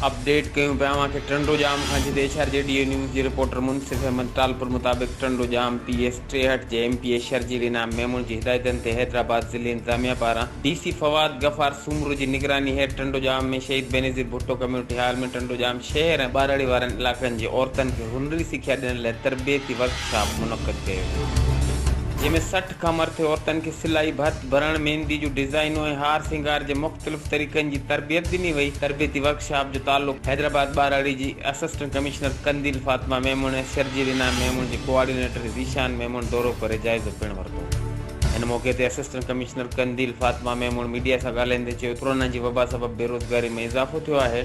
Update ڪيون پيا اوهان کي ٽنڊو ڄام کان جتي ايڇ آر جي ڊيو نيوز جي رپورٽر منصف احمد ٽالپر مطابق ٽنڊو ڄام پي ايس ٽيهٺ جي M P A Sharjeel Inam Memon جي هدايتن تي حيدرآباد ضلعي انتظاميا پاران ڊي سي فواد غفار سومرو جي نگراني هيٺ ٽنڊو ڄام ۾ شهيد بينظير ڀٽو ڪميونٽي هال ۾ ٽنڊو ڄام شهر ۽ ٻهراڙي وارن علائقن جي عورتن کي هنري سکيا ڏيڻ لاء تربيتي ورڪ شاپ منعقد ڪيو ويو جنهن ۾ سٺ کان مرٿي عورتن کي سلائي، ڀت ڀرڻ، ميندي جون ڊزائينون ۽ هار سينگار جي مختلف طريقن جي تربيت ڏني وئي، تربيتي ورڪ شاپ جو تعلق حيدرآباد ٻهراڙي جي اسسٽنٽ ڪمشنر قنديل فاطمه ميمڻ ۽ شرجيل انعام ميمڻ جي ڪوآرڊينيٽر ذيشان ميمڻ دورو ڪري جائزو پڻ ورتو ان موقعي تي assistant commissioner Qandeel Fatima Memon media سان ڳالهائيندي چيو ته ڪورونا جي وبا سبب بيروزگاري ۾ اضافو ٿيو آهي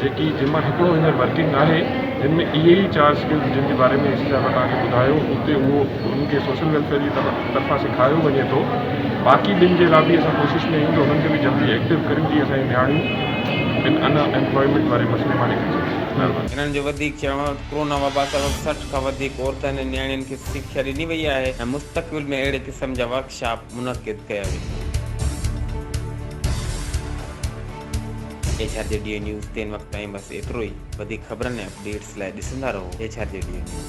جيڪي جن مان هڪڙو هينئر ورڪنگ آهي جن ۾ اهي ئي چار اسڪلز جن جي باري ۾ اي سي صاحب توهان کي ٻڌايو اتي اهو انهن کي سوشل ويلفيئر جي طرفان سيکاريو وڃي ٿو باقي ٻن جي لا به اسان ڪوشش ۾ آهيون ته انهن کي به جلدي ايڪٽو ڪريون جيئن اسان جون نياڻيون ان ان ايمپلائمينٽ واري مسئلي مان نڪري سگهن مهرباني. هنن جو وڌيڪ چوڻ هو ته ڪورونا وبا سبب سٺ کان وڌيڪ عورتن ۽ نياڻين کي سکيا ڏني وئي آهي ۽ مستقبل ۾ اهڙي قسم جا ورڪشاپ. منعقد ڪيا ويندا. H R G D A news تين وقت تائين بس ايترو ئي وڌيڪ خبرن ۽ اپڊيٽس لاء ڏسندا رهو H R G D A news.